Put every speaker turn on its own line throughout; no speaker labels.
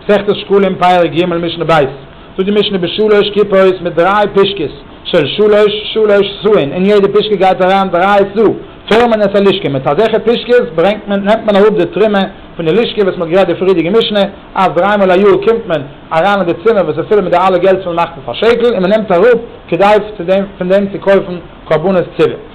מסכת שקלים פרק ג' משנה ב', זאגט די משנה בשלוש כיפות מיט דריי פישקעס, של שלש, שלש סאין, אין יעדע פישקע גייט אריין דריי סא, פארעמט מען עס א לישקע, מיט אזעלכע פישקעס ברענגט מען, נעמט מען אראפ די טרימע פון די לישקע, וואס מען האט גערעדט די פריערדיגע משנה, אז דריי מאל א יאר קומט מען אריין אין די צימער וואס איז פול מיט די אלע געלט וואס מען מאכט פון פאר שקל, און מען נעמט אראפ כדי פון דעם צו קויפן קרבנות ציבור.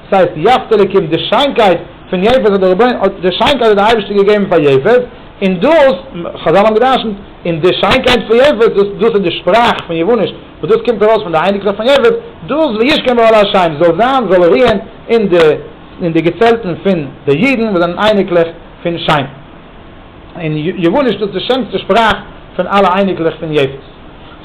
ס'הייסט יפתּהלע קומט די שיינקייט פון יפת האט דער רבי'ן האט די שיינקייט האט דער אייבערשטער געגעבן פאר יפת און דאס חזל האבן געדרשנט און די שיינקייט פון יפת דאס דאס איז די שפראך פון יוונ'יש וואס דאס קומט ארויס פון די אייניקלעך פון יפת דאס וישכון באהל השמים זאל זיין זאל רוען אין די אין די געצעלטן פון די אידן וואס זענען אייניקלעך פון שם. און יוואניש דאס די שענסטע שפראך פון אלע אייניקלעך פון יעפעס.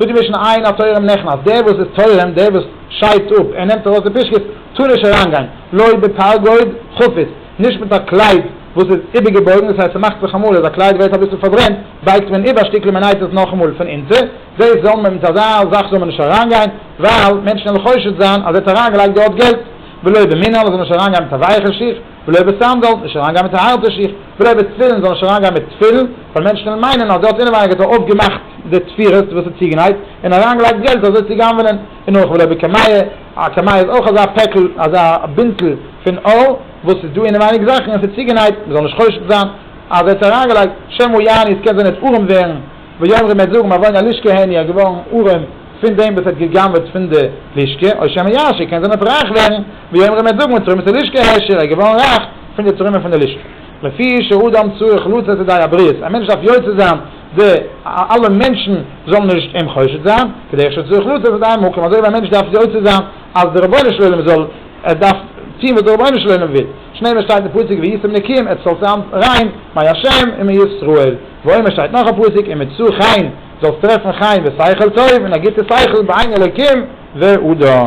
זאגן מיר שוין עיין התורם נכנס, אז דער וואס איז תורם, דער וואס שיידט אפ, ער נעמט ארויס די פישקעס, טאר נישט אריינגיין, לא בפרגוד חפיס, נישט מיט א קלייד וואס איז איבערגעבויגן, דאס הייסט ס'מאכט זיך אמאל אז א קלייד ווערט אביסל פארברענט, בייגט מען איבער א שטיקל און מען נייט עס נאכאמאל פון אונטער, דאס זאל מען מיט אזא זאך זאל מען נישט אריינגיין, ווייל מענטשן וועלן חושד זיין אז ער האט אריינגעלייגט דארט געלט, ולא במנעל, ער זאל נישט אריינגיין מיט א ווייעכע שיך, בלויע בשם זאל נישט אריינגיין מיט א הארטע שיך, בלויע תפילין זאל נישט אריינגיין מיט תפילין, ווייל מענטשן קענען מיינען אז דער האט אינעווייניג אויף געמאכט די תפירות וואס איז צוגענייט, און אריינגעלייגט געלט אזוי צו גנב'נען, און אויך בלויע בקמיה, א קמיה איז אויך אזא פעקל, אזא בינטל פון אור, וואס איז דא אינעווייניג זאכן און ס'איז צוגענייט, מ'זאל נישט חושד זיין אז ער האט עס אריינגעלייגט, שמא יעני עס קען זיין ער האט ארעם ווערן, ויאמרו מ'עט זאגן, מאווי נא לישקר העני, ער איז געווארן ארעם. פון דעם וואס האט גע'גנב'עט פון די לישקע, או שמא יעשיר, קען זיין ער וועט רייך ווערן, ווי אומרים מ'וועט זאגן מתרומת הלישקע העשיר, ער איז געווארן רייך פון די תרומה פון די לישקע. לפי שאדם צריך לצאת ידי הבריות, א מענטש דארף יוצא זיין די אלע מענטשן זאלן נישט אים חושד זיין, כדרך שצריך לצאת ידי המקום, אזוי ווי א מענטש דארף יוצא זיין אז די רבונו של עולם זאל, ער דארף טון וואס די רבונו של עולם וויל, שנעלער שטייט אין פסוק ויצאו נקיים, עטס זאלטס זיין ריין, מאי השם, ומאי ישראל, ועומר שטייט נאך א פסוק, אם מצאו חן. זאלסט טרעפן חיים ושכל טוב און א גוטע שכל בעין אלוקים ואדם.